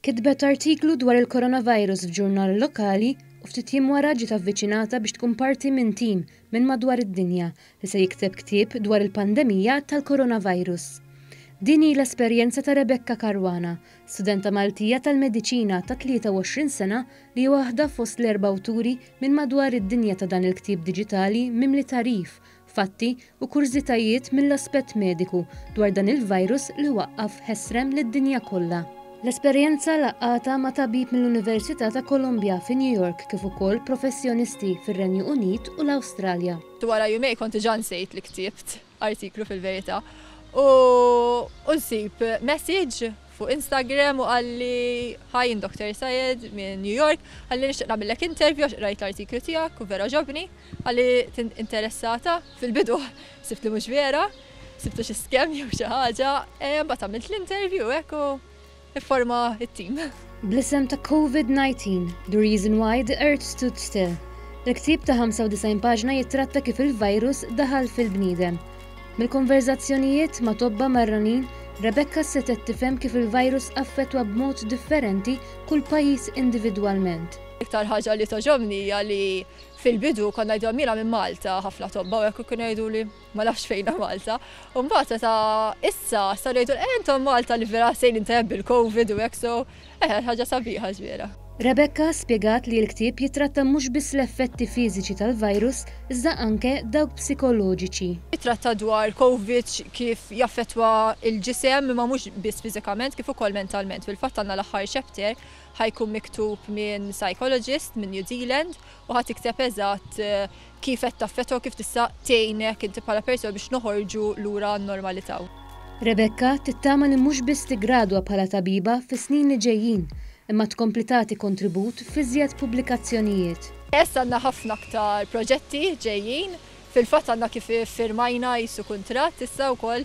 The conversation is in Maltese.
Kitbet artiklu dwar il-Coronavirus f'ġurnal lokali u ftit jiem wara ġiet avviċinata biex tkun parti minn tim minn madwar id-dinja li se jikteb ktieb dwar il-pandemija tal-Coronavirus. Din hi l-esperjenza ta' Rebecca Caruana, studenta Maltija tal-Mediċina ta' 23 sena li hi waħda fost l-erba' awturi minn madwar id-dinja ta' dan il-ktieb diġitali mimli tagħrif fatti u kurżitajiet mill-aspett mediku dwar dan il-virus li waqqaf ħesrem lid-dinja kollha. L-esperjenza laqgħatha ma' tabib mill-Università ta' Columbia fi New York kif ukoll professjonisti fir-Renju Unit u l-Awstralja. Wara jumejn kont diġà nsejt li ktibt artiklu fil-Verità u nsib messaġġ fuq Instagram u qalli, Hi jien Doktor Syed minn New York, qalli nixtieq nagħmillek interview għax qrajt l-artiklu tiegħek u vera għoġobni, qalli tint interessata, fil-bidu ħsibt li mhux vera, ħsibtu xi scam jew xi ħaġa, imbagħad għamilt l-interview hekk u fforma t-team. Bl-isem ta' Covid 19, The Reason Why the Earth Stood Still, il-ktieb ta' 95 paġna jittratta kif il-virus daħal fil-bniedem, Mill-konverżazzjonijiet ma' tobba marranin, Rebecca setgħet tifhem kif il-virus affettwa b'mod differenti kull pajjiż individwalment. L-iktar ħaġa li togħġobni hija li fil-bidu kont ngħidilhom jiena minn Malta, ħafna tobba u hekk kienu jgħiduli ma nafx fejnha Malta, u mbagħad meta issa sar jgħidulna eh intom Malta li vera sejrin tajjeb bil-Covid u hekk so Eħe, ħaġa sabiħa ż-żwiera. Rebecca spjegat li l-ktieb jittratta mhux biss l-effetti fiżiċi tal-virus iżda anke dawk psikoloġiċi. Jittratta dwar Covid kif jaffettwa l-ġisem imma mhux biss fiżikament kif ukoll mentalment. Fil-fatt għandna l-aħħar chapter ħa jkun miktub minn psychologist minn New Zealand u ħa tikteb eżatt kif qed taffettwa u kif tista' tgħinek inti bħala persuna biex noħorġu lura għan-normalità. Rebecca tittama li mhux biss tiggradwa bħala tabiba fis-snin li ġejjin, imma tkompli tagħti kontribut f'iżjed pubblikazzjonijiet. Yes, għandna ħafna aktar proġetti ġejjin. Fil-fatt għandna kif iffirmajna qisu kuntratt issa wkoll